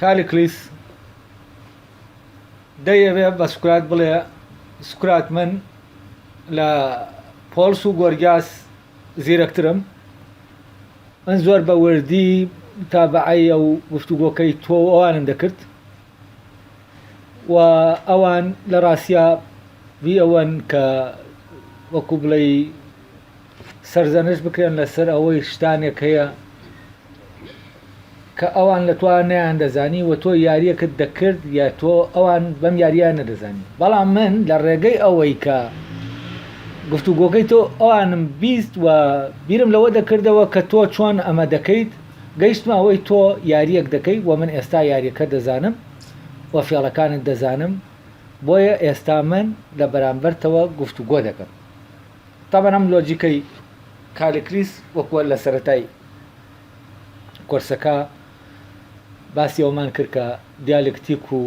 کاری کلیس دەیەوێ بە سوکرات بڵێ سوکرات من لە پۆڵس و گۆرگیاس زیرەکترم من زۆر بە وردی تابعەیە و گفتوگۆکەی تۆ و ئەوانم دەکرد و ئەوان لە ڕاستیا وی ئەوەن کە وەکو بڵێی سەرزەنشت بکرێن لەسەر ئەوەی شتانێک هەیە کە ئەوان لە تۆ نەیان دەزانی و تۆ یاریەکت دەکرد یا تۆ ئەوان بەم یاریان نەدەزانی بەڵام من لە ڕێگەی ئەوەی کە گفتوگۆکەی تۆ ئەوانم بیست و بیرم لەوە دەکردەوە کە تۆ چۆن ئەمە دەکەیت گەیشتمە ئەوەی تۆ یاریەک دەکەیت و من ئێستا یاریەکە دەزانم و فێڵەکانت دەزانم بۆیە ئێستا من لە بەرامبەرتەوە گفتوگۆ دەکەم تەبەن ئەم لۆجیکەی کالێکریس وەکوە لە سەرەتای کۆرسەکە باسی ئەومان کرد کە دیالکتیک و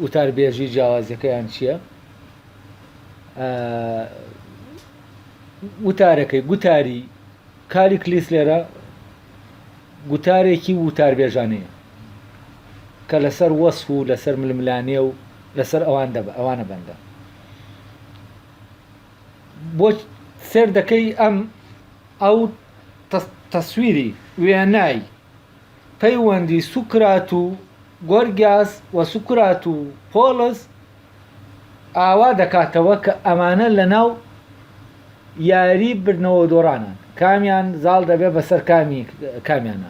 وتاربێژی جیاوازیەکەیان چییە وتارەکەی گوتاری کاری کلیس لێرە گوتارێکی وتاربێژانەیە کە لەسەر وەس و لەسەر ململانێ و لەسەر ئەوان دەب ئەوانە بەندە بۆ سێر دەکەی ئەم ئەو تەسویری وێنای پەیوەندی سوکرات و گۆرگیاس و سوکرات و پۆڵس ئاوا دەکاتەوە کە ئەمانە لە ناو یاری بردنەوە دۆڕانان کامیان زاڵ دەبێ بەسەر کامی کامیانە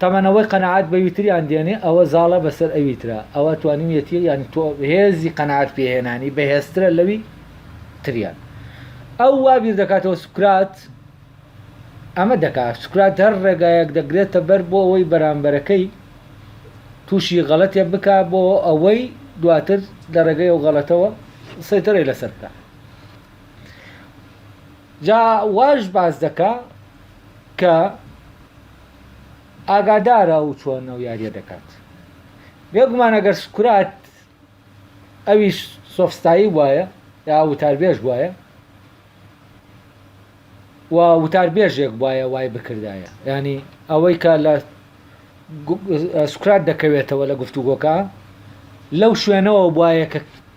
تەمەن ئەوەی قەناعەت بەوی تریان دێنێ ئەوە زاڵە بەسەر ئەوی ترا ئەوە توانیویەتی یانی تۆ هێزی قەناعەت پێهێنانی بەهێزترە لەوی تریان ئەو وا بیر دەکاتەوە سوکرات ئەمە دەکات سوکرات هەر ڕێگایەک دەگرێتە بەر بۆ ئەوەی بەرامبەرەکەی تووشی غەڵەتێ بکا بۆ ئەوەی دواتر لە ڕێگەی ئەو غەڵەتەوە سەیتەرەی لەسەر بکە جا واش باس دەکا کە ئاگادارە ئەو چۆن ئەو یاریە دەکات بێگومان ئەگەر سکرات ئەویش سۆفستایی وایە یا وتاربێژ وایە و وتاربێژێک وایە وای بکردایە ینی ئەوەی کە لە سکرات دەکەوێتەوە لە گفتوگۆکە لەو شوێنەوە وایە کە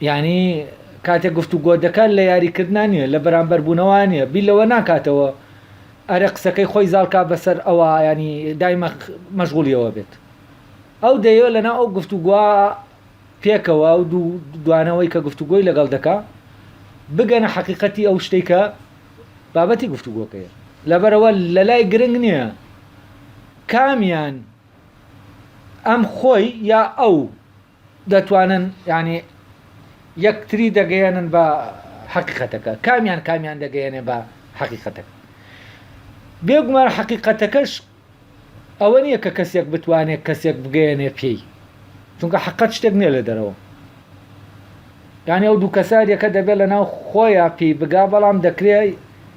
یانی کاتێک گفتوگۆ دەکات لە یاریکردنا نییە لە بەرامبەربوونەوە نییە بی لەوە ناکاتەوە ئەرە قسەکەی خۆی زالکا بەسەر ئەوە ینی دایمە مەشغولیەوە بێت ئەو دەیە لەنا ئەو گفتوگووا پێکەوە ئەو دوو دوانەوەی کە گفتوگۆی لەگەڵ دەکا بگەنە حەقیقەتی ئەو شتێک کە بابەتی گفتوگۆکەیە لەبەرەوە لە لای گرنگ نییە کامیان ئەم خۆی یا ئەو دەتوانن یعنی یەکتری دەگەیەنن بە حەقیقەتەکە کامیان کامیان دەگەیەنێ بە حەقیقەتەکە بێگومان حەقیقەتەکەش ئەوە نییە کە کەسێک بتوانێت کەسێک بگەیەنێ پێی چونکە حقت شتێک نیە لە دەرەوە یانی ئەو دوو کەسارەکە دەبێت لە ناو خۆیان پێی بگا بەڵام دەکرێت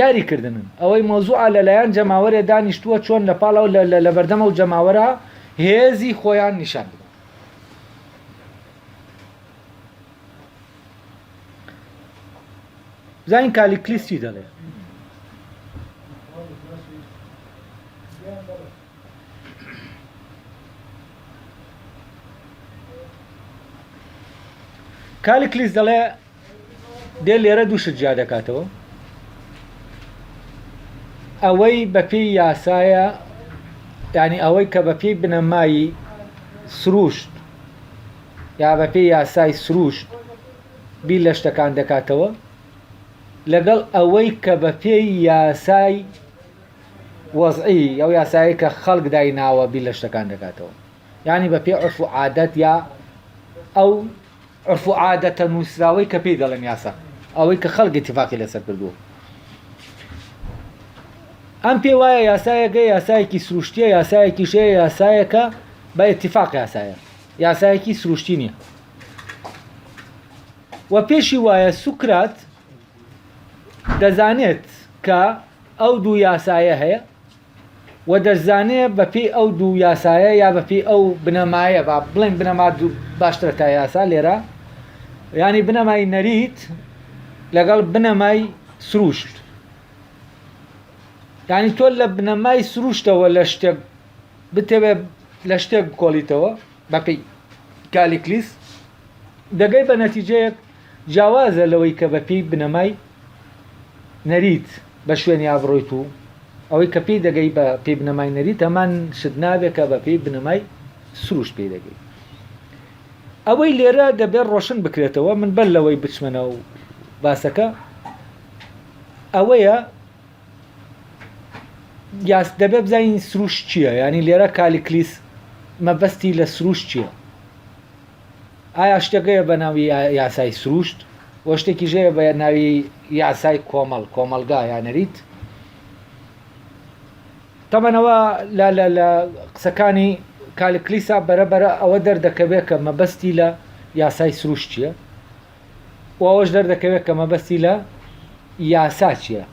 یاری کردنن ئەوەی مەوزوعە لەلایەن جەماوەرێ دانیشتووە چۆن لە پاڵەوە لە لە لەبەردەم ئەو جەماوەرە هێزی خۆیان نیشان بدەن زین کالیکلیس چی دەڵێ کالیکلیس دەڵێ دێ لێرە دوو شت جیا دەکاتەوە ئەوەی بەپێی یاسایە ینی ئەوەی کە بەپی بنەمایی سروشت یا بەپی یاسای سروشت بی لە شتەکان دەکاتەوە لەگەڵ ئەوەی کە بە پێی یاسای وەزعی ئەو یاسایی کە خەڵک دای ناوە بی لە شتەکان دەکاتەوە ینی بە پێ عرف و عادەت یا ئەو عورف و عادەتە نووسراوەی کە پێی دەڵێن یاسا، ئەوەی کە خەڵک ئیتیفاقی لەسەر کردووە. ئەم پێی وایە یاسایەکە یاسایەکی سروشتییە، یاسایەکیش هەیە یاسایەکە بە ئیتیفاق یاسایە، یاسایەکی سروشتی نییە. و پێشی وایە سوکرات دەزانێت کە ئەو دوو یاسایە هەیە، و دەشزانێ بە پێی ئەو دوو یاسایە یا بە پێی ئەو بنەمایە با بڵێن بنەما باشترە تا یاسا لێرە ینی بنەمای نەریت لەگەڵ بنەمای سروشت ینی تۆ لە بنەمای سروشتەوە لە شتێک بتەوێ لە شتێک بکۆڵیتەوە بەپی کالیکلیس دەگەی بە نەتیجەیەک جیاوازە لەوەی کە بەپی بنەمای نەریت بە شوێنی ئابڕوویت و ئەوەی کە پێی دەگەی بە پێی بنەمای نەریت هەمان شت نابێت کە بە پێی بنەمای سروش پێی دەگەی ئەوەی لێرە دەبێت ڕۆشن بکرێتەوە من بەر لەوەی بچمەنە و باسەکە ئەوەیە یاس دەبێت بزانین سروش چییە ینی لێرە کالیکلیس مەبەستی لە سروش چییە ئایا شتێک هەیە بە ناوی یاسای سروشت و شتێکیش هەیە بە ناوی یاسای کۆمەڵ کۆمەڵگا یا نەریت تەمەنەوە لە قسەکانی کالکلیسا بەرەبەرە ئەوە دەردەکەوێت کە مەبەستی لە یاسای سروشت چییە و ئەوەش دەردەکەوێت کە مەبەستی لە یاسا چییە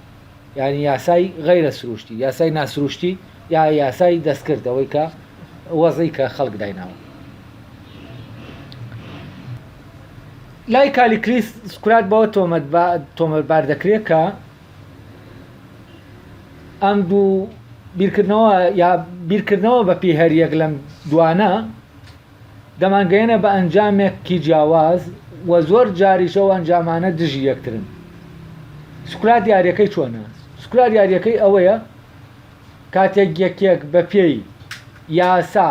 یعنی یاسای غیرە سروشتی یاسای ناسروشتی یا یاسای دەستکرد ئەوەی کە وەزی کە خەڵک دایناوە لای کالیکلیس سکرات بەوە تۆمەتبار دەکرێت کە ئەم دوو بیرکردنەوە یا بیرکردنەوە بە پێی هەریەک لەم دوانە دەمانگەیەنە بە ئەنجامێک کی جیاواز و زۆر جاریش ئەو ئەنجامانە دژی یەکترن سکرات یاریەکەی چۆنە سکرات یاریەکەی ئەوەیە کاتێک یەکێک بە پێی یاسا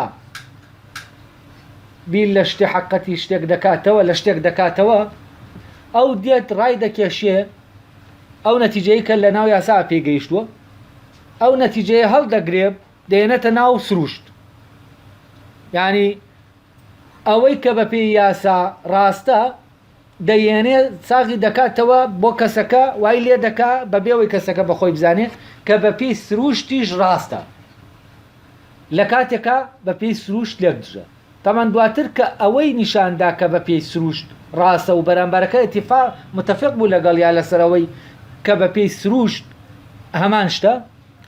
بیر لە شتێ حقەتی شتێک دەکاتەوە لە شتێک دەکاتەوە ئەو دێت ڕای دەکێشێ ئەو نەتیجەیە کە لە ناو یاسا پێگەیشتووە ئەو نەتیجەیە هەڵدەگرێ دێنێتە ناو سروشت یانی ئەوەی کە بە پێی یاسا ڕاستە دەیێنێ ساغی دەکاتەوە بۆ کەسەکە وای لێ دەکا بە بێەوەی کەسەکە بە خۆی بزانێ کە بە پێی سروشتیش ڕاستە لە کاتێکا بە پێی سروشت لێک دژە تەمان دواتر کە ئەوەی نیشاندا کە بە پێی سروشت ڕاستە و بەرامبارەکە اتفاق متفق بوو لەگەڵ یا لەسەرەوەی کە بە پێی سروشت هەمان شتە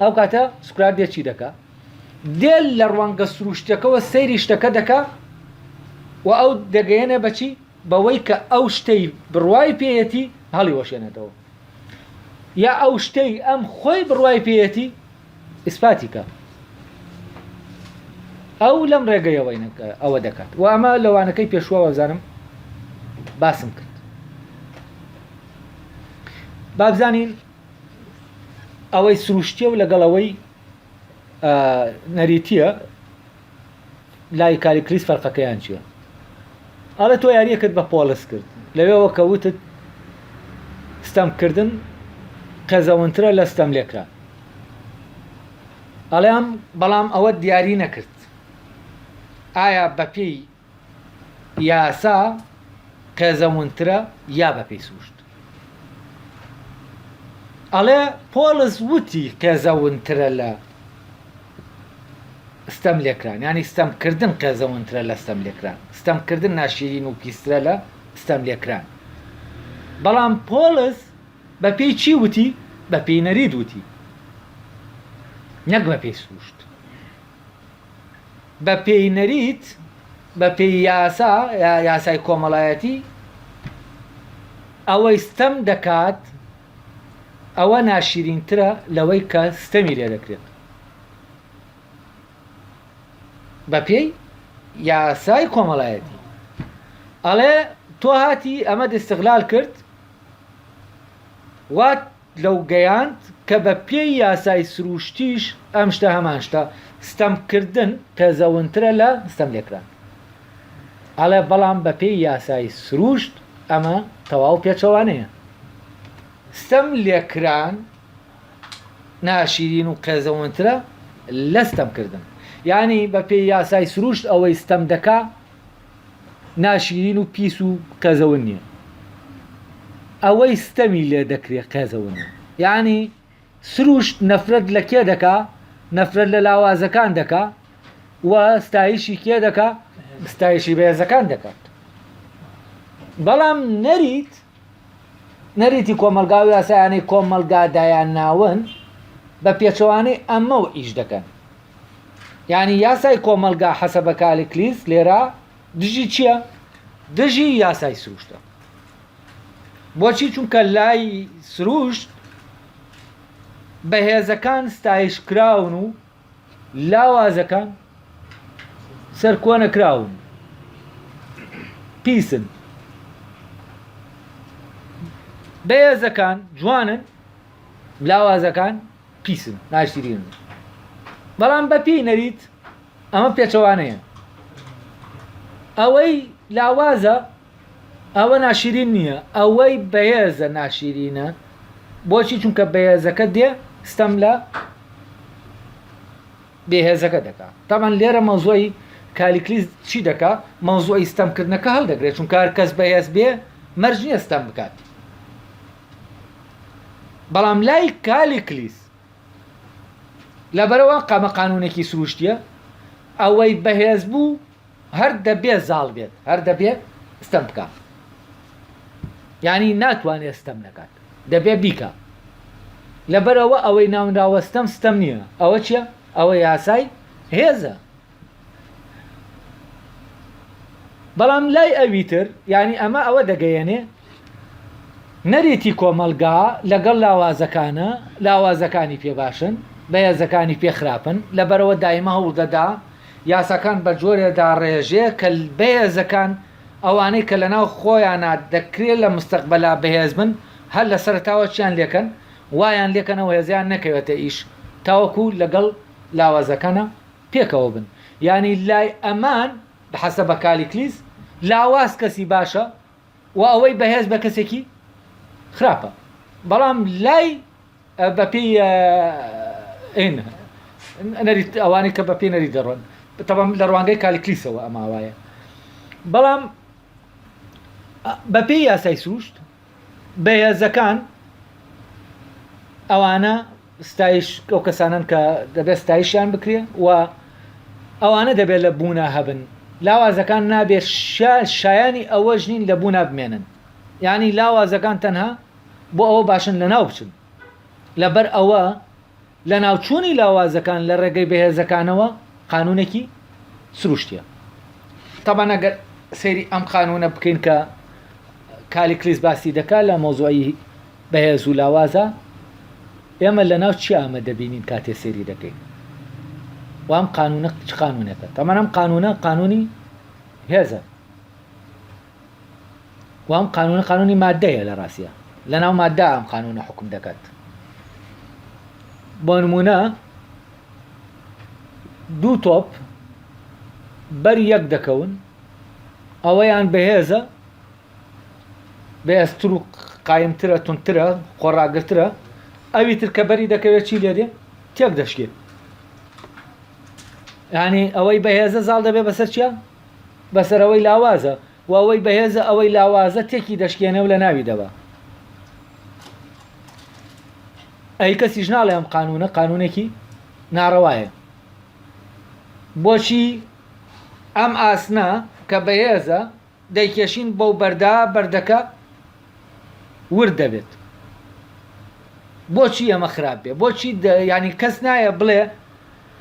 ئەو کاتە سکرات دێ چی دەکا دێ لە ڕوانگە سروشتەکەەوە سەیری شتەکە دەکا و ئەو دەگەیەنە بەچی بەوەی کە ئەو شتەی بڕوای پێەتی هەڵی وەشێنێتەوە یا ئەو شتەی ئەم خۆی بڕوای پێەتی ئیسپاتیکە ئەو لەم ڕێگەیەوەی ئەوە دەکات و ئەمە لەوانەکەی پێشوە وەزانم باسم کرد بابزانین ئەوەی سروشتیە و لەگەڵ ئەوەی نەریتیە لای کاری کریس فەرقەکەیان چیە ئەڵێ تۆ یاریەکرد بە پۆلس کرد لەوێەوە کە وتت ستەمکردن قێزەونترە لە ستەم لێکرا ئەڵێم بەڵام ئەوە دیاری نەکرد ئایا بەپێی یاسا قێزەونترە یا بە پێی سوشت ئەڵێ پۆلس وتی قێزەونترە لە ستەم لێکران ینی ستەمکردن قێزەونترە لە ستەم لێکران ستەمکردن ناشیرین و پیسترە لە ستەم لێکران بەڵام پۆلس بە پێی چی وتی بە پێی نەرید وتی نەک بە پێی سروشت بە پێی نەریت، بە پێی یاسا، یاسای کۆمەڵایەتی، ئەوەی ستەم دەکات ئەوە ناشیرینترە لەوەی کە ستەمی لێ دەکرێت. بە پێی یاسای کۆمەڵایەتی. ئەڵێ تۆ هاتی ئەمەت ئیستغلال کرد وات. لەو گەیاند کە بە پێی یاسای سرووشتیش ئەم شتە هەمان شتە، ستەمکردن قێزەونترە لە ستەم لێکران. ئەڵێ بەڵام بە پێی یاسای سرووشت ئەمە تەواو پێچەوانەیە. ستەم لێکران ناشیرین و قێزەونترە لە ستەمکردن. یانی بە پێی یاسای سرووشت ئەوەی ستەم دەکا، ناشیرین و پیس و قێزەون نیە ئەوەی ستەمی لێ دەکرێ قێزەونە یانی سروشت نەفرەت لە کێ دەکا نەفرەت لە لاوازەکان دەکا و ستایشی کێ دەکا ستایشی بەهێزەکان دەکات بەڵام نەریت نەریتی کۆمەڵگا و یاسایانەی کۆمەڵگا دایانناون، بە پێچەوانەی ئەمەوە ئیش دەکەن. یانی یاسای کۆمەڵگا حەسەبە کالکلیس لێرە دژی چییە؟ دژی یاسای سروشتە. بۆچی چونکە لای سروشت بەهێزەکان ستایش کراون و لاوازەکان سەرکۆنەکراون پیسن بەهێزەکان جوانن لاوازەکان پیسن ناشتیرین بەڵام بەپی نەریت ئەمە پێچەوانەیە ئەوەی لاوازە ئەوە ناشیرین نییە ئەوەی بەهێزە ناشیرینە بۆچی چونکە بەهێزەکە دێ ستەم لە بێهێزەکە دەکا تامان لێرە مەوزۆی کالیکلیس چی دەکا مەوزۆی ستەمکردنەکە هەڵدەگرێت چون کار کەس بەهێز بێ مەرج نییە ستەم بکات بەڵام لای کالیکلیس لەبەرەوە قامە قانونێکی سروشتیە ئەوەی بەهێز بوو هەر دەبێ زاڵ بێت هەر دەبێ ستەم بکا یانی ناتوانێت ستەم نەکات دەبێ بیکە لەبەرەوە ئەوەی ناونراوە ستەم ستەم نییە ئەوە چییە ئەوە یاسای هێزە بەڵام لای ئەویتر ینی ئەمە ئەوە دەگەیەنێ نەریتی کۆمەلگا لەگەڵ لاوازەکانە لاوازەکانی پێباشن بەهێزەکانی پێخراپن لەبەرەوە دایمە هەوڵدەدا یاساکان بە جۆرێ داڕێژێ کە بەهێزەکان، ئەوانەی کە لەناو خۆیانا دەکرێ لە مستەقبەلا بەهێز بن، هەر لە سەرەتاوە چیان لێکەن، وایان لێکەنەوە هێزیان نەکەوێتە ئیش تاوەکو لەگەڵ لاوازەکانا پێکەوە بن. یانی لای ئەمان، بحەسەبە کالیکلیس، لاواز کەسی باشە و ئەوەی بەهێز بە کەسێکی خراپە. بەڵام لای. بەپێی نەریت ئەوانەی کە بەپێی نەریت دەڕۆن تەبەم لە ڕوانگەی کالیکلیسەوە ئەماوایە بەڵام بەپێی یاسای سروشت بەهێزەکان ئەوانە ستایش ئەو کەسانن کە دەبێت ستایشیان بکرێ و ئەوانە دەبێت لە بوونا هەبن لاوازەکان نابێت شایانی ئەوەش نین لە بوونا بمێنن ینی لاوازەکان تەنها بۆ ئەوە باشن لەناو بچن. لەبەر ئەوە لەناوچوونی لاوازەکان لە ڕێگەی بەهێزەکانەوە قانونێکی سروشتیە. تەبەن ئەگەر سەیری ئەم قانونە بکەین کە کالیکلیس باسی دەکا لە مۆزوعی بەهێز و لاوازە ئێمە لە ناو چی ئامە دەبینین کاتێ سەیری دەکەین وام قانونە چ قانونێکە تەمەەن ئەم قانونە قانونی هێزە و ئەم قانونە قانونی مادەیە لە ڕاستە لەناو مادە ئەم قانونە حکم دەکات بۆ نمونە دوو تۆپ بەر یەک دەکەون ئەوەیان بەهێزە بەێستر و قایمترە تونترە خۆڕاگرترە ئەوی تر کە بەری دەکەوێت چی لێدێ تێک دەشکێت ینی ئەوەی بەهێزە زاڵ دەبێ بەسەر چیە بەسەر ئەوەی لاوازە و ئەوەی بەهێزە ئەوەی لاوازە تێکی دەشکێنێ و لەناوی دەبا ئەی کەسیش ناڵێ ئەم قانونە قانونێکی ناڕەوایە بۆچی ئەم ئاسنا کە بەهێزە دەیکێشین بەو بەردا بەردەکە ورد دەبێت بۆچی ئەمە خراپ بێ بۆچی ینی کەس نایە بڵێ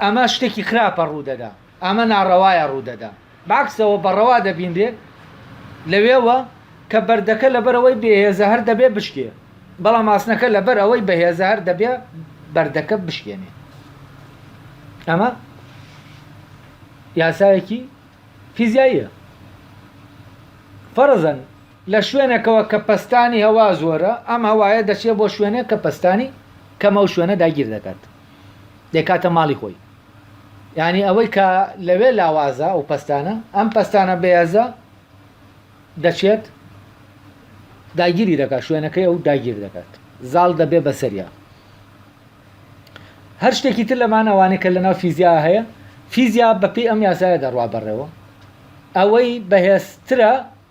ئەمە شتێکی خراپە ڕوودەدا ئەمە ناڕەوایە ڕوودەدا. بەعەکسەوە بە ڕەوا دەبینرێ لەوێوە کە بەردەکە لەبەرئەوەی بێهێزە هەر دەبێ بشکێ، بەڵام ئاسنەکە لەبەرئەوەی بەهێزە هەر دەبێ بەردەکە بشکێنێ. ئەمە یاسایەکی فیزیاییە. فەرزەن لە شوێنێکەوە کە پەستانی هەوا زۆرە، ئەم هەوایە دەچێ بۆ شوێنێک کە پەستانی کەمە و شوێنە داگیر دەکات. دەیکاتە ماڵی خۆی یانی ئەوەی کە لەوێ لاوازە ئەو پەستانە ئەم پەستانە بەیازە دەچێت داگیری دەکات شوێنەکەی ئەو داگیر دەکات زاڵ دەبێ بەسەریا هەر شتێکی تر لەمان ئەوانەی کە لەناو فیزیا هەیە فیزیا بەپی ئەم یاسایە دەڕوا بەڕێوە ئەوەی بەهێزترە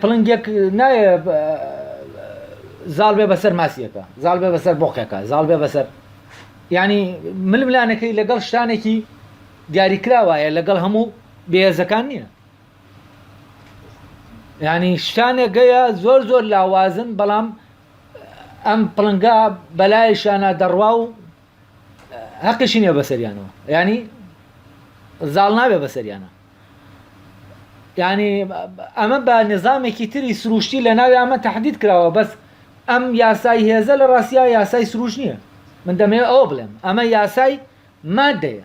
پڵنگێک نایە زاڵ بێ بەسەر ماسیەکە زاڵ بێ بەسەر بۆقێکە زاڵ بێ بەسەر ینی ململانەکەی لەگەڵ شتانێکی دیاریکراوایە لەگەڵ هەموو بێزەکان نییە ینی شتانێک گەیە زۆر زۆر لاوازن بەڵام ئەم پڵنگە بەلای شانە دەڕوا و هەقیشی نیە بەسەریانەوە ینی زاڵ نابێ بەسەریانە ینی ئەمە بە نظامێکی تری سروشتی لە ناوی ئەمە تهدید کراوە بەس ئەم یاسای هێزە لە ڕاستیا یاسای سروش نییە من دەمەوێت ئەوە بڵێم ئەمە یاسای مادەیە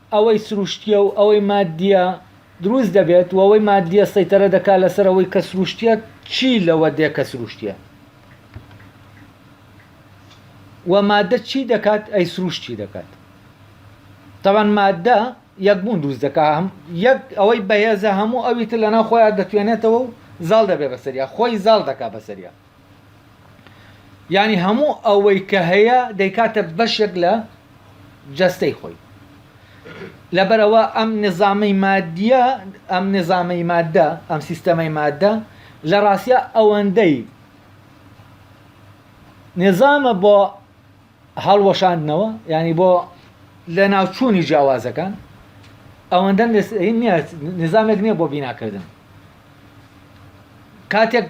ئەوەی سروشتیە و ئەوەی مادیە دروست دەبێت و ئەوەی مادیە سەیتەرە دەکات لەسەر ئەوەی کە سروشتیە چی لەوە دێ کە سروشتیە و مادە چی دەکات ئەی سروشت چی دەکات تەوان مادە یەکبوون دروست دەکا هەم یەک ئەوەی بەهێزە هەموو ئەویتر لەناو خۆیان دەتوێنێتەوە و زاڵ دەبێ بەسەریا خۆی زاڵ دەکا بەسەریا یانی هەموو ئەوەی کە هەیە دەیکاتە بەشێک لە جەستەی خۆی لەبەرەوە ئەم نظامی مادیە ئەم نظامی مادە ئەم سیستەمەی مادە لە ڕاستە ئەوەندەی نظامە بۆ هەڵوەشاندنەوە ینی بۆ لە ناوچوونی جیاوازەکان ئەوەندە نظامێک نییە بۆ بیناکردن کاتێک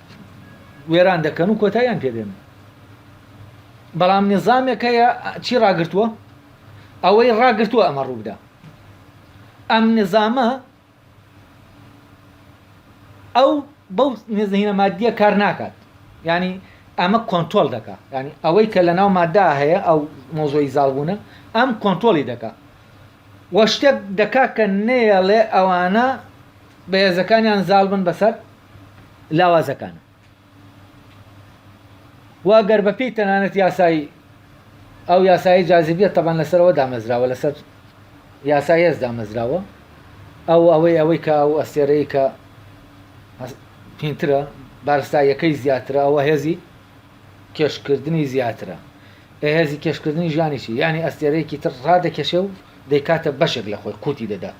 وێران دەکەن و کۆتاییان پێدێن بەڵام نظامێک هەیە چی ڕاگرتووە ئەوەی ڕاگرتووە ئەمە ڕووبدا ئەم نظامە ئەو بەو نزهینە مادیە کار ناکات ینی ئەمە کۆنتۆل دەکە ینی ئەوەی کە لە ناو مادا هەیە ئەو مۆزۆی زالبوونە ئەم کۆنتۆلی دەکە وە شتێک دەکا کە نێڵێ ئەوانە بەهێزەکانیان زال بن بەسەر لاوازەکانە و گەر بەپی تەنانەت یاسایی ئەو یاسایی جاذبیە تەبان لەسەرەوە دامەزراوە لەسەر یاسای هێز دامەزراوە ئەو ئەوەی ئەوەی کە ئەو ئەستێرەی کە پینترە بارستاییەکەی زیاترە ئەوە هێزی کێشکردنی زیاترە هێزی کێشکردنی ژیانی چی یعنی ئەستێرەیەکی تر ڕادەکێشێ و دەیکاتە بەشێک لە خۆی قوتی دەدات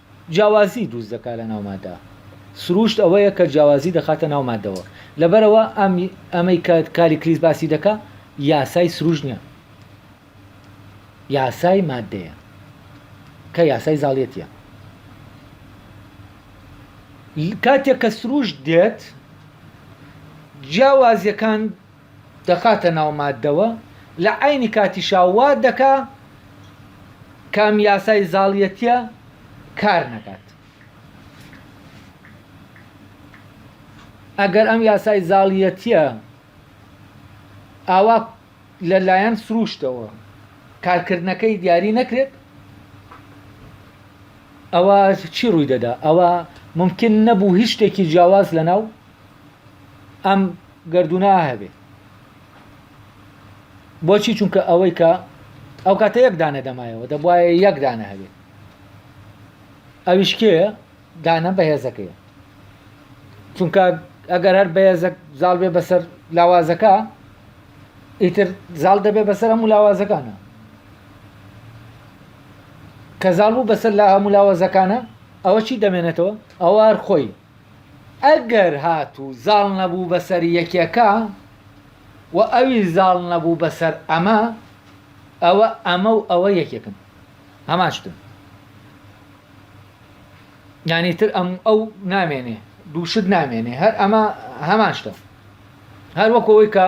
جیاوازی دروست دەکات لە ناو ماددا. سرووشت ئەوەیە کە جیاوازی دەخاتە ناو ماددەوە. لەبەرئەوە ئەمەی کە کالیکلیس باسی دەکا یاسای سرووشت نییە. یاسای ماددەیە. کە یاسای زاڵیەتییە. کاتێک کە سرووشت دێت جیاوازیەکان دەخاتە ناو ماددەوە لە عەینی کاتیشا وا دەکا کە ئەم یاسای زاڵیەتیە کار نەکات ئەگەر ئەم یاسای زاڵیەتیە ئاوا لەلایەن سروشتەوە کارکردنەکەی دیاری نەکرێت ئەوە چی ڕووی دەدا ئەوە ممکن نەبوو هیچ شتێکی جیاواز لە ناو ئەم گردونە هەبێ بۆچی چونکە ئەوەی کە ئەو کاتە یەک دانە دەمایەوە دەبواە یەک دانە هەبێت ئەویشکێ دانە بەهێزەکەی چونکە ئەگەر هەر بەهێزە زاڵ بێ بەسەر لاوازەکە ئیتر زاڵ دەبێ بەسەر هەموو لاوازەکانە کە زاڵ بوو بەسەر لا هەموو لاوازەکانە ئەوە چی دەمێنێتەوە ئەوار خۆی ئەگەر هاتوو زاڵ نەبوو بەسەر یەکێکە و ئەویش زاڵ نەبوو بەسەر ئەمە، ئەوە ئەمە و ئەوە یەکێکن، هەمان شتن. یانی ئیتر ئەم و ئەو نامێنێ، دوو شت نامێنێ، هەر ئەمە هەمان شتە. هەر وەکو ئەوەی کە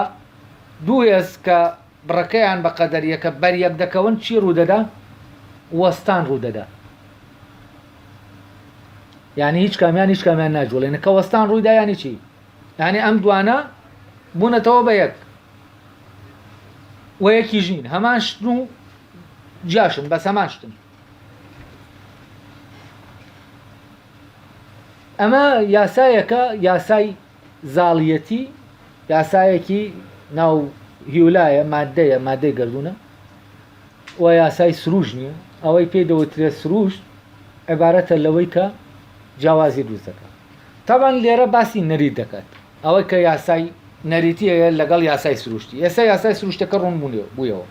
دوو هێز کە بڕەکەیان بە قەدەریەکە بەریەک دەکەون چی ڕوودەدا؟ وەستان ڕوودەدا یعنی هیچ کامیان هیچ کامیان ناجوڵێنە کە وەستان ڕوویدا یانی چی یعنی ئەم دوانە بوونەتەوە بە یەک و یەکی ژین هەمان شتن و جاشن بەس هەمان شتن ئەمە یاسایەکە یاسای زاڵیەتی یاسایەکی ناو هیولایە مادەیە مادەی گردونە و یاسای سروش نییە ئەوەی پێی دەوترێ سروشت عبارەتە لەوەی کە جیاوازی دروست دەکات تاوان لێرە باسی نەریت دەکات ئەوەی کە یاسای نەریتی هەیە لەگەڵ یاسای سروشتی ئێستا یاسای سروشتەکە ڕوون بوونێ بوویەوە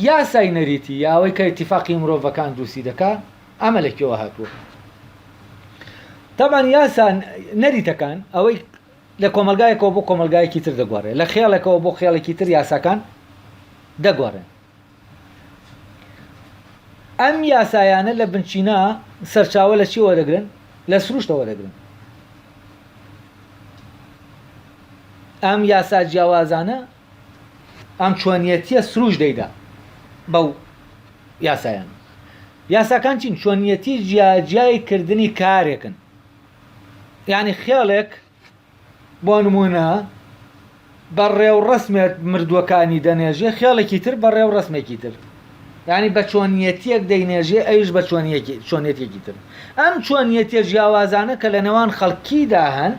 یاسای نەریتی یاوەی کە اتفاقی مرۆڤەکان دروستی دەکات ئەمە لە کوێوە هاتووە؟ تابان یاسا نەریتەکان ئەوەی لە کۆمەلگایەکەوە بۆ کۆمەلگایەکی تر دەگوارێت لە خێڵێکەوە بۆ خێڵێکی تر یاساکان دەگوارن ئەم یاسایانە لە بنچینە سەرچاوە لە چیەوە دەگرن لە سروشتەوە دەگرن ئەم یاسا جیاوازانە ئەم چۆنیەتیە سروش دەیدا بەو یاسایان یاساکان چین چۆنیەتی جیاجیای کردنی کارێکن یعنی خێڵێک بۆ نمونە بە ڕێوڕسمێت مردووەکانی دەنێژێ خێڵێکی تر بە ڕێوڕسمێکی تر یانی بە چۆنیەتیەک دەینێژێ ئەویش بە چۆنیەتێکی تر. ئەم چۆنیەتیە جیاوازانە کە لە نێوان خەڵکیدا هەن،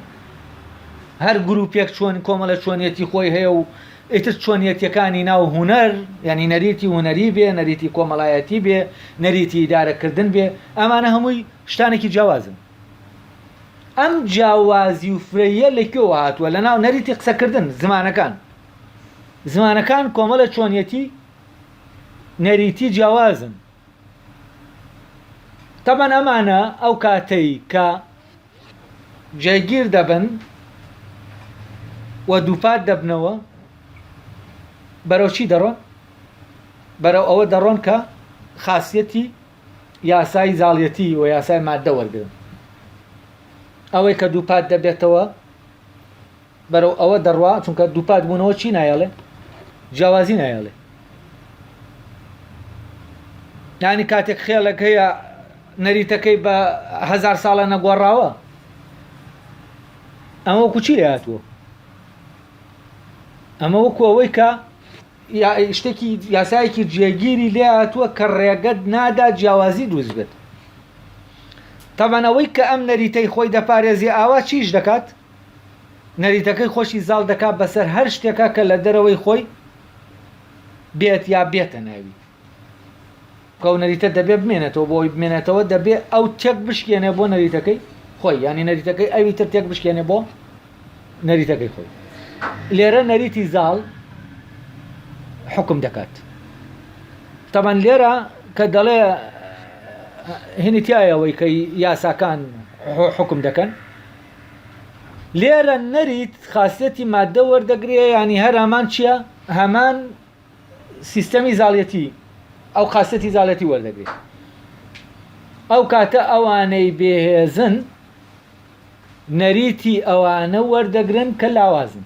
هەر گروپێک چۆن کۆمەڵە چۆنیەتی خۆی هەیە و ئیتر چۆنیەتیەکانی ناو هونەر یانی نەریتی هونەری بێ، نەریتی کۆمەڵایەتی بێ، نەریتی ئیدارەکردن بێ، ئەمانە هەمووی شتانێکی جیاوازن. ئەم جیاوازی و فرەییە لە کوێوە هاتووە؟ لە ناو نەریتی قسەکردن، زمانەکان. زمانەکان کۆمەڵە چۆنیەتی نەریتی جیاوازن تەبەن ئەمانە ئەو کاتەی کە جێگیر دەبن و دووپات دەبنەوە بەرەو چی دەڕۆن بەرەو ئەوە دەڕۆن کە خاصیەتی یاسای زاڵیەتی و یاسای مادە وەرگن ئەوەی کە دووپات دەبێتەوە بەرەو ئەوە دەڕوا چونکە دووپات بوونەوە چی نایەڵێ جیاوازی نایەڵێ نانی کاتێک خێڵێک هەیە نەریتەکەی بە هزار ساڵە نەگۆڕاوە ئەمە کوچی لە هاتووە ئەمە وەکو ئەوەی کە شتێکی یاسایەکی جێگیری لێ هاتووە کە ڕێگەت نادا جیاوازی دروست بێت تەمانەوەی کە ئەم نەریتەی خۆی دەپارێزی ئاوا چیش دەکات نەریتەکەی خۆشی زاڵ دەکات بەسەر هەر شتێکە کە لە دەرەوەی خۆی بێت یا بێتە ناوی کەو نەریتە دەبێ بمێنێتەوە بۆی بمێنێتەوە دەبێ ئەو تێک بشکێنێ بۆ نەریتەکەی خۆی ینی نەریتەکەی ئەوی تر تێک بشکێنێ بۆ نەریتەکەی خۆی لێرە نەریتی زاڵ حکم دەکات تەبەن لێرە کە دەڵێ هینی تایەوەی کە یاساکان حکم دەکەن لێرە نەریت خاسیەتی ماددە وەردەگرێ یانی هەر هەمان چییە هەمان سیستەمی زاڵەتی ئەو قاسەتی زالەتی وەردەگرێت ئەو کاتە ئەوانەی بێهێزن نەریتی ئەوانە وەردەگرن کە لاوازن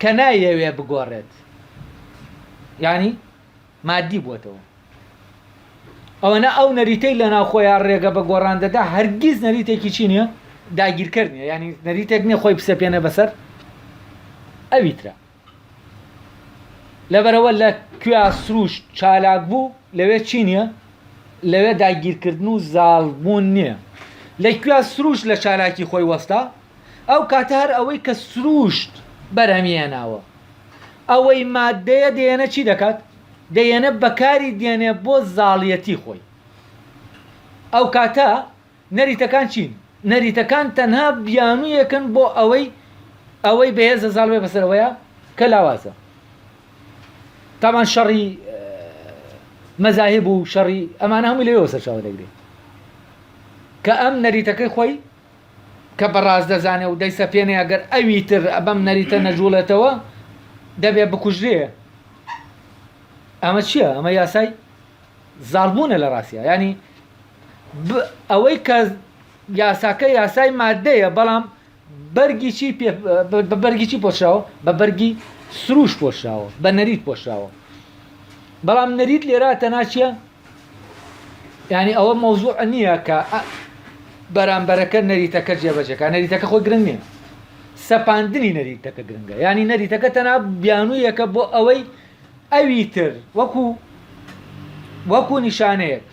کە نایەوێ بگۆڕێت یانی مادی بووەتەوە ئەوەنە ئەو نەریتەی لە ناوخۆیان ڕێگە بە گۆڕان دەدا هەرگیز نەریتێکی چی نییە داگیرکەر نیە ینی نەریتێک نیە خۆی بسەپێنە بەسەر ئەویترا لەبەرەوە لە کوێا سروش چالاک بوو لەوێ چی نییە لەوێ داگیرکردن و زاڵبوون نییە لە کوێا سروش لە چالاکی خۆی وەستا ئەو کاتە هەر ئەوەی کە سرووشت بەرهەمی هێناوە ئەوەی مادەیە دێنە چی دەکات دێنە بەکاری دێنێ بۆ زاڵیەتی خۆی ئەو کاتە نەریتەکان چین نەریتەکان تەنها بیانوویەکن بۆ ئەوەی ئەوەی بەهێزە زاڵ بێ بەسەرەوەیە کە لاوازە تامان شەڕی مەزاهب و شەڕی ئەمانە هەموو لەوێ سەرچاوە دەگرێت کە ئەم نەریتەکەی خۆی کە بە ڕاست دەزانێ و دەیسەپێنێ ئەگەر ئەوی تر بەم نەریتە نەجووڵێتەوە دەبێ بکوژرێ. ئەمە چییە؟ ئەمە یاسای زاڵبوونە لە ڕاستیا ینی ئەوەی کە یاساکە یاسای مادەیە بەڵام بەرگی چی بە بەرگی چی پۆشراوە بە بەرگی سروش پۆشراوە بە نەریت پۆشراوە بەڵام نەریت لێرا تەناچە یانی ئەوە مەوزوع نییە کە بەرامبەرەکە نەریتەکە جێبەجێکە نەریتەکە خۆی گرنگ نییە سەپاندنی نەریتەکە گرنگە ینی نەریتەکە تەنا بیانوویەکە بۆ ئەوەی ئەوی تر وەکو وەکو نیشانەیەک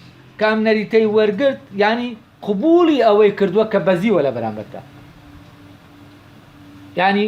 کام نەریتەی وەرگرت ینی قبولی ئەوەی کردووە کە بەزیوە لە بەرامبەردا ینی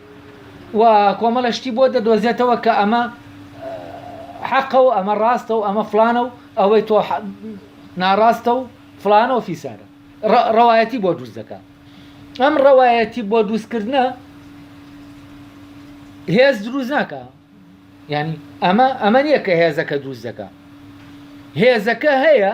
و کۆمەڵە شتی بۆ دەدۆزێتەوە کە ئەمە حەقە و ئەمە ڕاستە و ئەمە فلانە و ئەوەی تۆ ناڕاستە و فلانە و فیسارە ڕەوایەتی بۆ دروست دەکات ئەم ڕەوایەتی بۆ دروستکردە هێز دروست ناکە ینی ئەمە ئەمە نییە کە هێزەکە دروست دەکە هێزەکە هەیە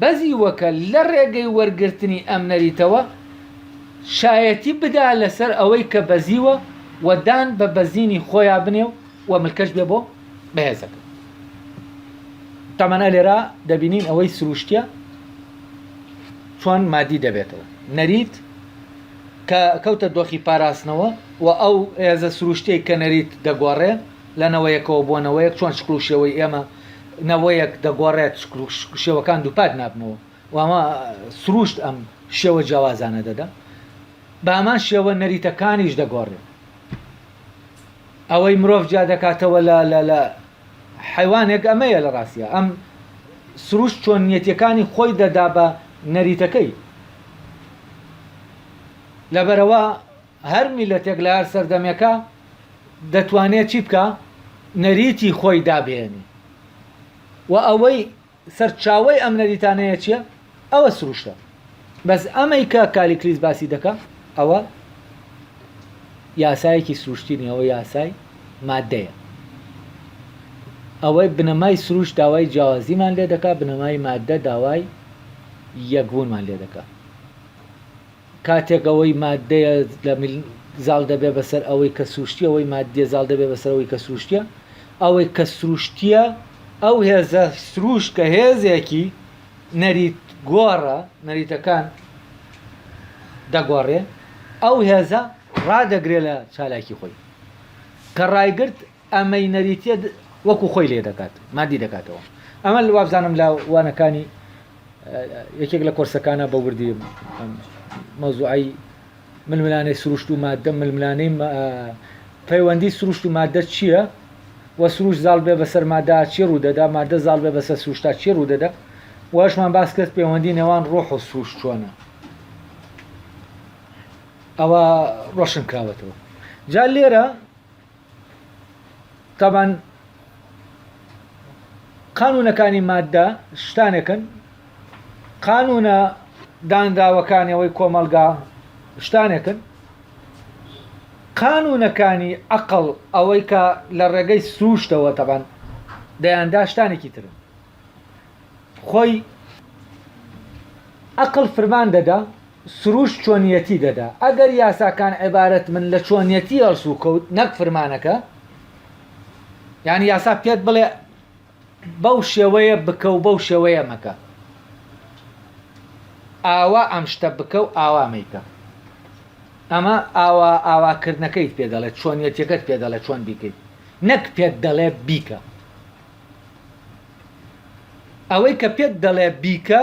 بەزیوەکە لە ڕێگەی وەرگرتنی ئەم نەریتەوە شایەتی بدا لەسەر ئەوەی کە بەزیوە و دان بە بەزینی خۆیا بنێ و ملکەچ بێ بۆ بەهێزەکە. تەمەنە لێرە دەبینین ئەوەی سروشتیە چۆن مادی دەبێتەوە نەریت کە کەوتە دۆخی پاراستنەوە و ئەو هێزە سروشتەی کە نەریت دەگۆڕێ لە نەوەیەکەوە بۆ نەوەیەک چۆن شکڵ و شێوەی ئێمە نەوەیەک دەگۆڕێت شکڵ و شێوەکان دووپات نابنەوە و ئەمە سرووشت ئەم شێوە جیاوازانە دەدا بە هەمان شێوە نەریتەکانیش دەگۆڕێت ئەوەی مرۆڤ جیا دەکاتەوە لە لە لە حیوانێک ئەمەیە لە ڕاستە ئەم سروش چۆنیەتەکانی خۆی دەدا بە نەریتەکەی لەبەرەوە هەر میلەتێک لە هەر سەردەمێکا دەتوانێ چی بکا؟ نەریتی خۆی دابهێنی و ئەوەی سەرچاوەی ئەم نەریتانەیە چیە؟ ئەوە سروشتە بەس ئەمەی کە کالیکلیس باسی دەکا ئەوە یاسایەکی سروشتی نیە ئەوە یاسای مادەیە ئەوەی بنەمای سروشت داوای جیاوازیمان لێ دەکا بنەمای مادە داوای یەکبوونمان لێ دەکا کاتێک ئەوەی ماددەیە لە مل زاڵ دەبێ بەسەر ئەوەی کە سروشتیە ئەوەی ماددیە زاڵ دەبێ بەسەر ئەوەی کە سروشتیە ئەوەی کە سروشتیە ئەو هێزە سروشت کە هێزێکی نەریت گۆڕە نەریتەکان دەگۆڕێ ئەو هێزە ڕادەگرێ لە چالاکی خۆی کە ڕایگرت ئە مینەریتیە وەکو خۆی لێ دەکات مادی دەکاتەوە ئەمە وابزانم لە وانەکانی یەکێک لە کۆرسەکانە بە وردی مەوزوعی ململانەی سروشت و مادە ململانەی پەیوەندی سروشت و مادە چییە و سروش زاڵ بێ بەسەر مادا چی ڕوودەدا مادە زاڵ بێ بەسەر سروشتا چی ڕوودەدا واشمان باس کرد پەیوەندی نێوان ڕۆح و سروش چۆنە ئەوە ڕۆشن کراوەتەوە جا لێرە تابان قانونەکانی مادە شتانێکن قانونە دانراوەکانەوەی کۆمەلگا شتانێکن قانونەکانی ئەقل ئەوەی کە لە ڕێگەی سروشتەوە تەبان دەیاندا شتانێکی ترن خۆی ئەقل فرمان دەدا سروشت چۆنیەتی دەدا. ئەگەر یاساکان عیبارەت بن لە چۆنیەتی هەڵسوکەوت نەک فرمانەکە، یانی یاسا پێت بڵێ بەو شێوەیە بکە و بەو شێوەیە مەکە، ئاوا ئەم شتە بکە و ئاوا مەیکە، ئەمە ئاوا ئاواکردنەکەیت پێ دەڵێت، چۆنیەتیەکەت پێ دەڵێت چۆن بیکەیت، نەک پێت دەڵێ بیکە. ئەوەی کە پێت دەڵێ بیکە،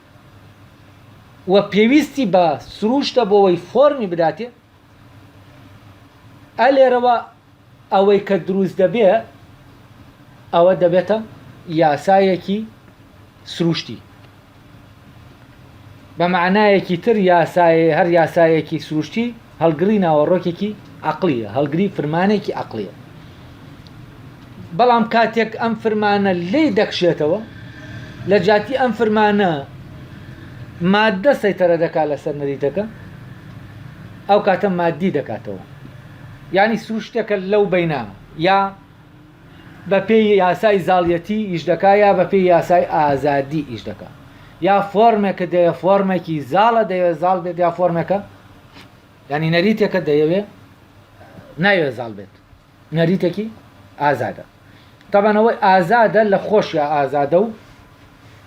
و پێویستی بە سرووشتە بۆوەی فۆرمی بداتێ ئە لێرەوە ئەوەی کە دروست دەبێ ئەوە دەبێتە یاسایەکی سروشتی بە معنایەکی تر یاسای هەر یاسایەکی سروشتی هەڵگڕی ناوەڕۆکێکی عەقڵییە، هەڵگری فرمانێکی عەقڵییە. بەڵام کاتێک ئەم فرمانە لێی دەکشێتەوە، لە جیاتی ئەم فرمانە ماددە سەیتەرە دەکات لەسەر نەریتەکە، ئەو کاتە ماددی دەکاتەوە. یانی سروشتەکە لەو بەینا یا بەپێی یاسای زاڵیەتی ئیش دەکات یا بەپێی یاسای ئازادی ئیش دەکات. یا فۆرمێکە دەیە فۆرمێکی زاڵە دەیە زاڵ بێت یا فۆرمێکە یانی نەریتێکە دەیەوێ ناوێ زاڵ بێت نەریتێکی ئازادە تابانەوەی ئازادە لە خۆشیا ئازادە و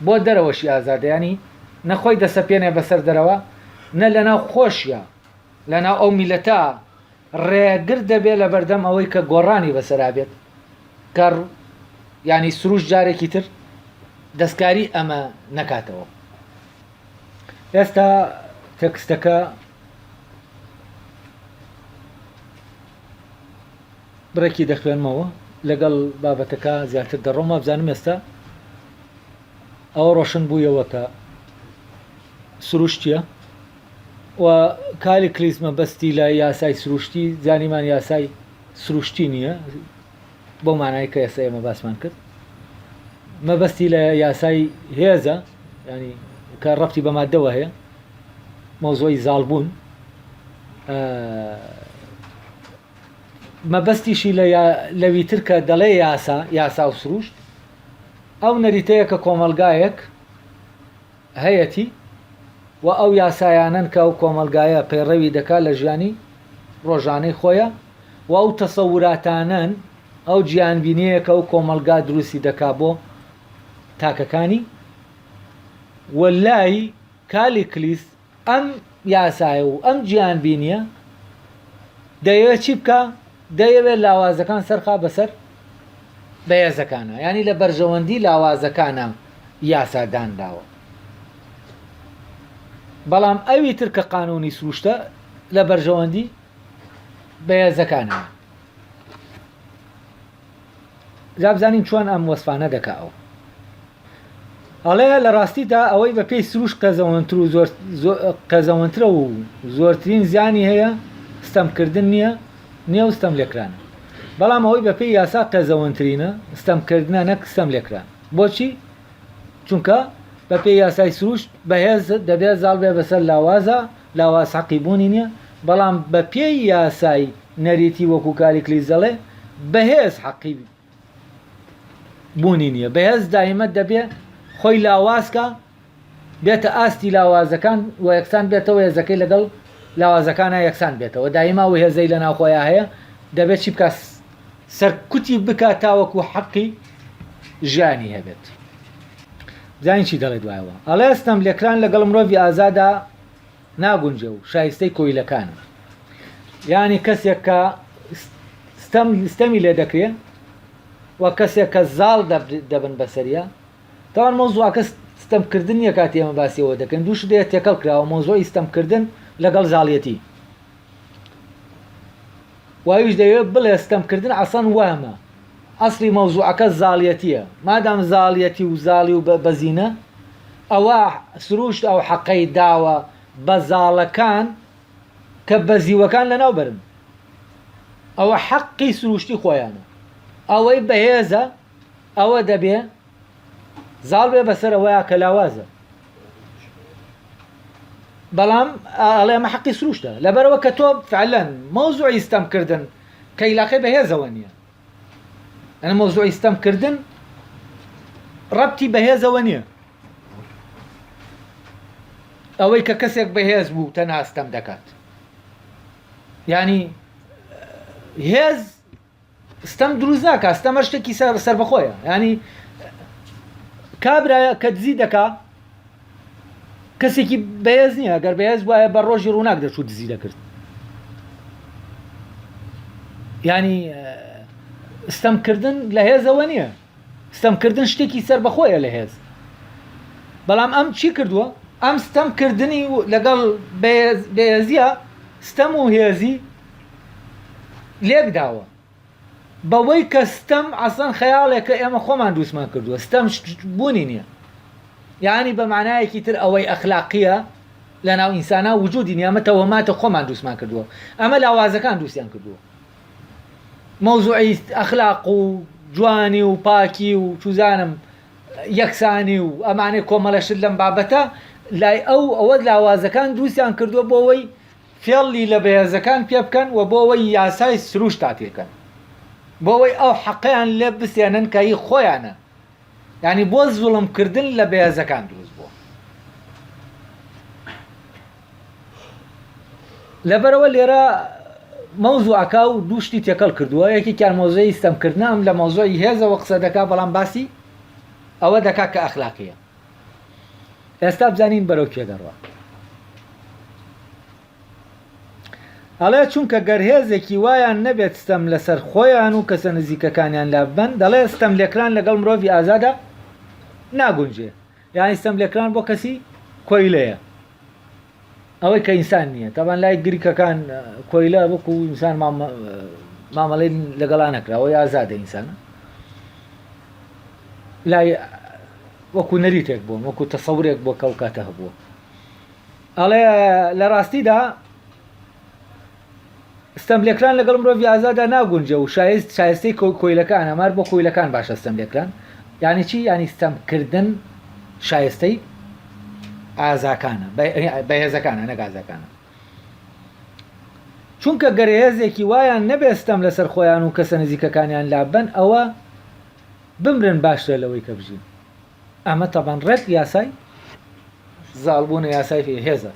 بۆ دەرەوەشی ئازادیانی نەخۆی دەسەپێنێ بەسەر دەرەوە نە لەناو خۆشیە لەناو ئەو میلەتە ڕێگر دەبێ لە بەردەم ئەوەی کە گۆڕانی بەسەرا بێت کە ینی سروش جارێکی تر دەستکاری ئەمە نەکاتەوە ئێستا تەکستەکە بڕێکی دەخوێنمەوە لەگەڵ بابەتەکە زیاتر دەڕۆم وابزانم ئێستا ئەوە ڕۆشن بوویەوە کە سروشتیە و کاری کلیسمە بەستی لە یاسای سروشتی زانیمان یاسای سروشتی نییە بەو مانای کە ئێستا ئێمە باسمان کرد مەبەستی لە یاسای هێزە ینی کە ڕفتی بە مادەوە هەیە مۆزۆی زالبوون مەبەستیشی لەویتر کە دەڵێ یاسا یاسا و سروشت ئەو نەریتەیە کە کۆمەلگایەک هەیەتی و ئەو یاسایانەن کە ئەو کۆمەڵگایە پەیڕەوی دەکات لە ژیانی ڕۆژانەی خۆیا و ئەو تەسەوراتانەن، ئەو جیهانبینیەیە کە ئەو کۆمەڵگا دروستی دەکات بۆ تاکەکانی و لای کالیکلیس، ئەم یاسایە و ئەم جیهانبینییە دەیەوێت چی بکا؟ دەیەوێت لاوازەکان سەرخا بەسەر بەهێزەکانە یعنی لە بەرژەوەندی لاوازەکانە یاسا دانراوە بەڵام ئەوی تر کە قانونی سروشتە لە بەرژەوەندی بەهێزەکانە جا بزانین چۆن ئەم وەسفانە دەکا ئەو ئەڵێ لە ڕاستیدا ئەوەی بە پێی سروش قێزەوەنتر و زۆر قێزەوەنترە و زۆرترین زیانی هەیە ستەمکردن نییە نێو ستەم لێکرانە بەڵام ئەوەی بە پێی یاسا قێزەوەنترینە ستەمکردە نەک ستەم لێکران بۆچی چونکە بە پێی یاسای سروش بەهێز دەبێت زاڵ بێ بەسەر لاوازە لاواز حەقی بوونی نییە بەڵام بە پێی یاسای نەریتی وەکو کالیکلیس دەڵێ بەهێز حەقی بوونی نیە، بەهێز دایمە دەبێ خۆی لاوازکا بێتە ئاستی لاوازەکان و یەکسان بێتەوە هێزەکەی لەگەڵ لاوازەکانا یەکسان بێتەوە دایما و هێزەی لەناو خۆیا هەیە دەبێت چی بکا سەرکوتی بکا تاوەکو حەقی ژیانی هەبێت زانین چی دەڵێت وایەوە ئەڵێ ستەم لێکران لەگەڵ مرۆڤی ئازادا ناگونجێ و شایستەی کۆیلەکانە. یانی کەسێک کە ستەم ستەمی لێ دەکرێ و کەسێک کە زاڵ دەبن بەسەریا تاوان مەوزوعەکە ستەم کردن نیە کاتی ئێمە باسیەوە دەکەین دوو شدەیە تێکەڵ کراوە مەوزوعی ستەم کردن لەگەڵ زاڵیەتی و ئەویش دەیەوێت بڵێت ستەمکردن ئەسڵەن وەهمە، ئەسڵی مەوزوعەکە زاڵیەتیە، مادام زاڵیەتی و زاڵی و بەزینە ئەوا سروشت ئەو حەقەی داوە بە زاڵەکان کە بەزیوەکان لەناو بەرن، ئەوە حەقی سروشتی خۆیانە، ئەوەی بەهێزە ئەوە دەبێ. زاڵ بێ بەسەر ئەوەیە کە لاوازە بەڵام ئەڵێ ئەمە حەقی سروشتە لەبەرەوە کە تۆ فعلەن مۆزوعی ستەمکردن کە یلاقی بەهێزەوە نییە ئەە مۆزوعی ستەمکردن ڕەتی بەهێزەوە نییە ئەوەی کە کەسێک بەهێز بوو تەنها ستەم دەکات ینی هێز ستەم دروست ناکا ستەم هەر شتێکی سەربەخۆیە ینی کابرایە کە دزی دەکا کەسێکی بەهێز نییە گەر بەهێز وایە بە ڕۆژی ڕووناک دەچوو دزی دەکرد ینی ستەمکردن لە هێزەوە نییە ستەم کردن شتێکی سەربەخۆیە لە هێز بەڵام ئەم چی کردووە ئەم ستەم کردنی لەگەڵ بەێزیە ستەم و هێزی لێکداوە بەوەی کە ستەم ئەسان خەیاڵێکە ئێمە خۆمان دووسمان کردووە ستەم بوونی نییە یعنی بە معنایەکی تر ئەوەی ئەخلاقیە لە ناو ئینسانە وجودی نیامەتەوە ماتە خۆمان دووسمان کردووە ئەمە لاوازەکان دووسیان کردووە مەوزوعی ئەخلاق و جوانی و پاکی و چوزانم یەکسانی و ئەمانەی کۆمەڵە شت لەم بابەتە لای ئەو ئەوە لاوازەکان دروستیان کردووە بۆوەی فێڵی لە بەهێزەکان پێ بکەن و بۆوەی یاسای سروشتا پێکەن بۆوەی ئەو حەقیان لێ بسێنن کە هی خۆیانە یانی بۆ زوڵم کردن لە بەێزەکان دروست بووە لەبەرەوە لێرە مەوزوعەکە و دوو شتی تێکەڵ کردووە یەکێکیان مۆزەی ستەمکردن ئەم لە مۆزۆی هێزەوە قسە دەکا بەڵام باسی ئەوە دەکا کە ئەخلاقیە ئێستا بزانین بەرەو کێ دەڕوە ئەڵێ، چونکە گەر هێزێکی وایان نەبێت ستەم لەسەر خۆیان و کەسە نزیکەکانیان لا ببەن، دەڵێ، ستەملێکران لەگەڵ مرۆڤی ئازادا ناگونجێ، یانی ستەملێکران بۆ کەسی کۆیلەیە، ئەوەی کە ئینسان نییە، تەبان لای گریکەکان کۆیلە وەکو ئینسان مامەڵەی لەگەڵا نەکرا، ئەوەی ئازادە ئینسانە لای وەکو نەریتێک بوون وەکو تەسەورێک بۆ کەوکاتە هەبووە. ئەڵێ، لە ڕاستیدا ستەملێکران لەگەڵ مرۆڤی ئازادا ناگونجێ و شایست شایستەی کۆیلەکان ئەمار بۆ کۆیلەکان باشە ستەملێکران یعنی چی یعنی ستەمکردن شایستەی ئازاکانە بەهێزەکانە نەک ئازاکانە چونکە گەرهێزێکی وایان نەبێستەم لەسەر خۆیان و کەسە نزیکەکانیان لابەن ئەوە بمرن باشترە لەوەی کە بژین ئەمە تەبان ڕێک یاسای زاڵ بوونە یاسای فێ هێزە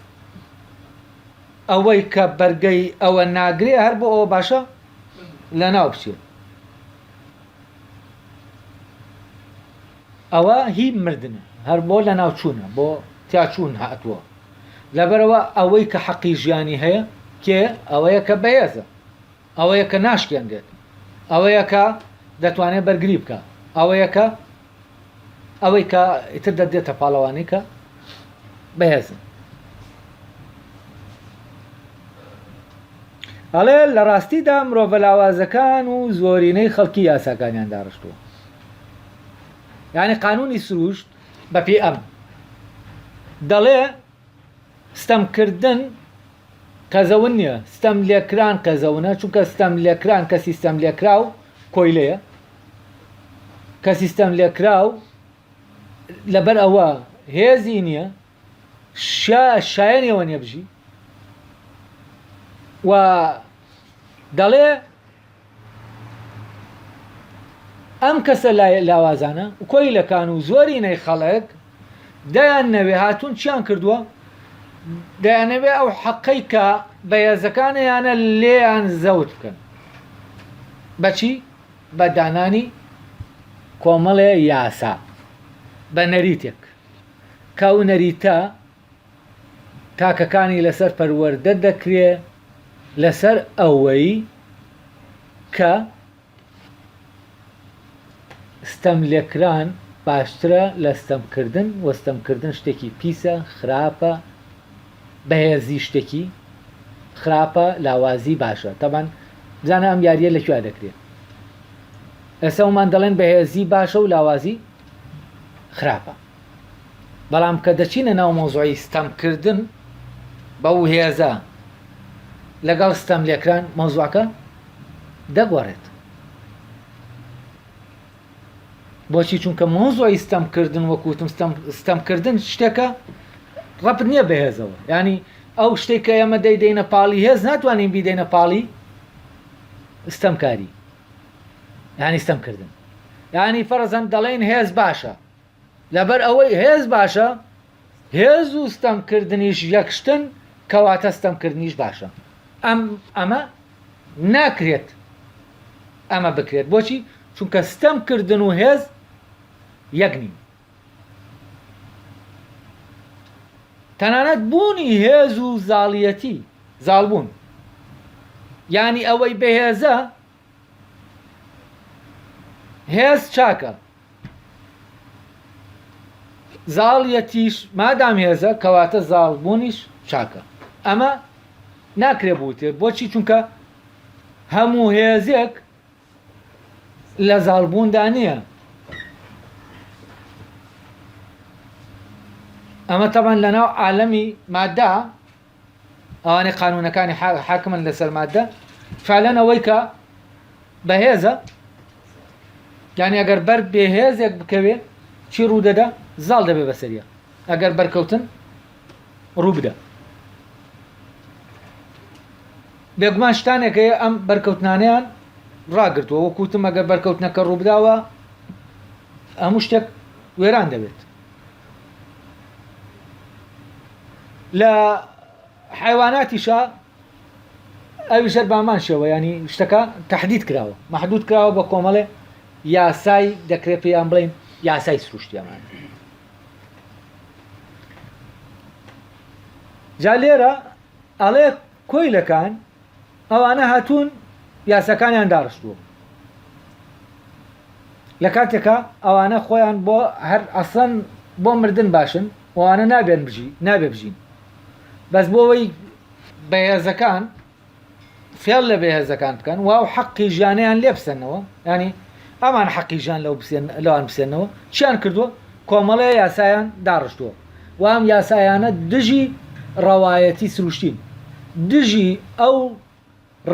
ئەوەی کە بەرگەی ئەوە ناگرێ هەر بۆ ئەوە باشە لە ناو بچێت ئەوە هی مردنە هەر بۆ لە ناوچوونە بۆ تیاچوون هاتووە لەبەرەوە ئەوەی کە حەقی ژیانی هەیە کێ ئەوەیە کە بەهێزە ئەوەیە کە ناشکێنرێت. ئەوەیە کە دەتوانێت بەرگری بکا. ئەوەیە کە ئەوەی کە ئیتر دەدرێتە پاڵەوانی کە بەهێزن. ئەڵێ لە ڕاستیدا مرۆڤە لاوازەکان و زۆرینەی خەڵکی یاساکانیان داڕشتووە. یعنی قانونی سروشت بەپێی ئەم دەڵێ ستەم کردن قەزەون نیە ستەم لێکران قەزەونە چونکە ستەم لێکران کەسی ستەم لێکراو کۆیلەیە کەسی ستەم لێکراو لەبەر ئەوە هێزی نییە شایەنەوە نێبژی و دەڵێ ئەم کەسە لاوازانە و کۆیلەکان و زۆرینەی خەڵک دەیان نەوێ هاتوون چیان کردووە دەیانەوێ ئەو حەقەی کە بەهێزەکانیانە لێیان زەوت بکەن بەچی بە دانانی کۆمەڵێ یاسا بە نەریتێک کە و نەریتە تاکەکانی لەسەر پەروەردە دەکرێ لەسەر ئەوەی کە ستەم لێکران باشترە لە ستەمکردن و ستەمکردن شتێکی پیسە خراپە بەهێزی شتێکی خراپە لاوازی باشە تەبەن بزانە ئەم یاریە لە کوێ دەکرێت ئێسەومان دەڵێن بەهێزی باشە و لاوازی خراپە بەڵام کە دەچینە ناو مەوزوعی ستەم کردن بەو هێزە لەگەڵ ستەم لێکران مەوزوعەکە دەگۆڕێت بۆچی چونکە مۆزۆی ستەم کردن وەکوتم ستەم کردن شتێکە ڕەپ نییە بەهێزەوە ینی ئەو شتێک کە ئێمە دەیدەینە پاڵی هێز ناتوانین بیدەینە پاڵی ستەمکاری ینی ستەم کردن ینی فەرزەن دەڵێن هێز باشە لەبەر ئەوەی هێز باشە هێز و ستەم کردنیش یەک شتن کەواتە ستەم کردنیش باشە ئەم ئەمە ناکرێت ئەمە بکرێت بۆچی چونکە ستەم کردن و هێز یەک نین تەنانەت بوونی هێز و زاڵیەتی زاڵبوون ینی ئەوەی بەهێزە هێز چاکە زاڵیەتیش مادام هێزە کەواتە زاڵ بوونیش چاکە ئەمە ناکرێ بوتێ بۆچی چونکە هەموو هێزێک لە زاڵبووندا نییە ئەمە تەبان لەناو عالەمی مادا ئەوانەی قانونەکانی حاکمن لەسەر مادە فعلەن ئەوەی کە بەهێزە یعنی ئەگەر بەر بێهێزێک بکەوێ چی ڕوودەدا زاڵ دەبێ بەسەریە ئەگەر بەرکەوتن ڕووبدا بێگومان شتانێک هەیە ئەم بەرکەوتنانیان ڕاگرتووە وەکوتم ئەگەر بەرکەوتنەکە ڕووبداوە هەموو شتێک وێران دەبێت لە حیواناتیشە ئەوی ژەر بامان شێوە ینی شتەکە تهدید کراوە محدود کراوە بە کۆمەڵێ یاسای دەکرێت پێیان بڵین یاسای سروشتیەمان جا لێرە ئەڵێ کۆیلەکان ئەوانە هاتوون یاساکانیان داڕشتووە لە کاتێکا ئەوانە خۆیان بۆ هەر ئەسڵەن بۆ مردن باشن ئەوانە نابێن بژی نابێ بژین بەس بۆەوەی بەهێزەکان فێڵ لە بەهێزەکان بکەن واو حەقی ژیانیان لێ بسەنەوە ینی ئەمان حەقی ژیان لەو لەوان بسێنەوە چیان کردووە کۆمەڵەیە یاسایان داڕشتووە و ئەم یاسایانە دژی ڕەوایەتی سروشتین، دژی ئەو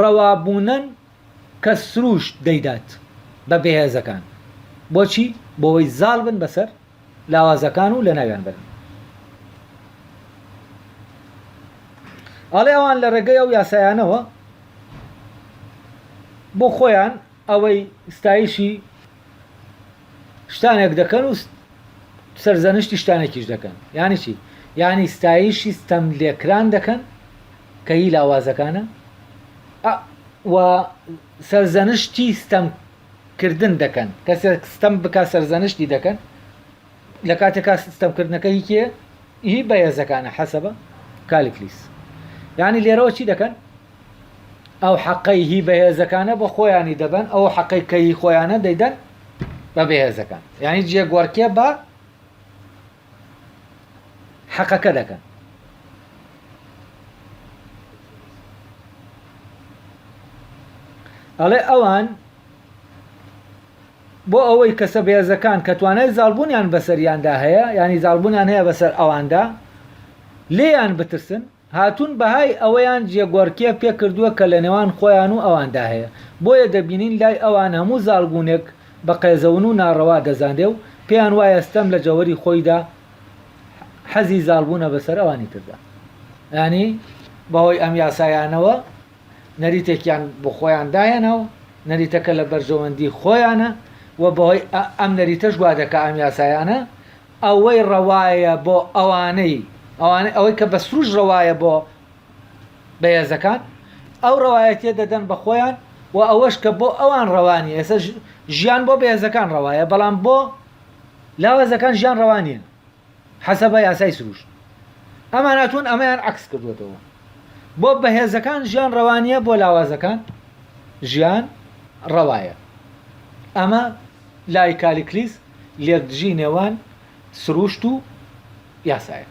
ڕەوابوونەن کە سروشت دەیدات بە بێهێزەکان. بۆچی؟ بۆوەی زاڵ بن بەسەر لاوازەکان و لەناویان بەرن. ئەڵێ ئەوان لە ڕێگەی ئەو یاسایانەوە بۆ خۆیان، ئەوەی ستایشی شتانێک دەکەن و سەرزەنشتی شتانێکیش دەکەن یانی چی یانی ستایشی ستەم لێکران دەکەن کە هی لاوازەکانە و سەرزەنشتی ستەم کردن دەکەن کەسێک ستەم بک سەرزەنشتی دەکەن لە کاتێکا ستەمکردنەکە هیکێ هی بەهێزەکانە حەسەبە کالکلیس یعنی لێرەوە چی دەکەن ئەو حەقەی هی بەهێزەکانە بە خۆیانی دەبەن ئەو حەقەی کە هی خۆیانە دەیدەن بە بەهێزەکان یعنی جێگوەرکێ بە حەقەکە دەکەن ئەڵێ ئەوان بۆ ئەوەی کەسە بێزەکان کە توانای زالبوونیان بەسەریاندا هەیە ینی زالبوونیان هەیە بەسەر ئەواندا لێیان بترسن هاتوون بەهای ئەوەیان جێگۆڕکێ پێکردووە کە لە نێوان خۆیان و ئەواندا هەیە، بۆیە دەبینین لای ئەوان هەموو زاڵبوونێک بە قێزەون و ناڕەوا دەزانرێ و پێیان وایە ستەم لە جەوهەری خۆیدا حەزی زاڵبوونە بەسەر ئەوانی تردا. یانی بەهۆی ئەم یاسایانەوە نەریتێکیان بۆ خۆیان داهێناوە، نەریتەکە لە بەرژەوەندی خۆیانە و بەهۆی ئەم نەریتەش وا دەکا ئەم یاسایانە ئەوەی ڕەوایە بۆ ئەوانەی ئەوانەی ئەوەی کە بە سروش ڕەوایە بۆ بەهێزەکان ئەو ڕەوایەتیە دەدەن بە خۆیان و ئەوەش کە بۆ ئەوان ڕەوا نیە ئێستا ژیان بۆ بەهێزەکان ڕەوایە بەڵام بۆ لاوازەکان ژیان ڕەوا نیە حەسەبە یاسای سروش ئەمان هاتوون ئەمەیان عکس کردوێتەوە بۆ بەهێزەکان ژیان ڕەوانیە بۆ لاوازەکان ژیان ڕەوایە ئەمە لای کالیکلیس لێکدژی نێوان سرووشت و یاسایە.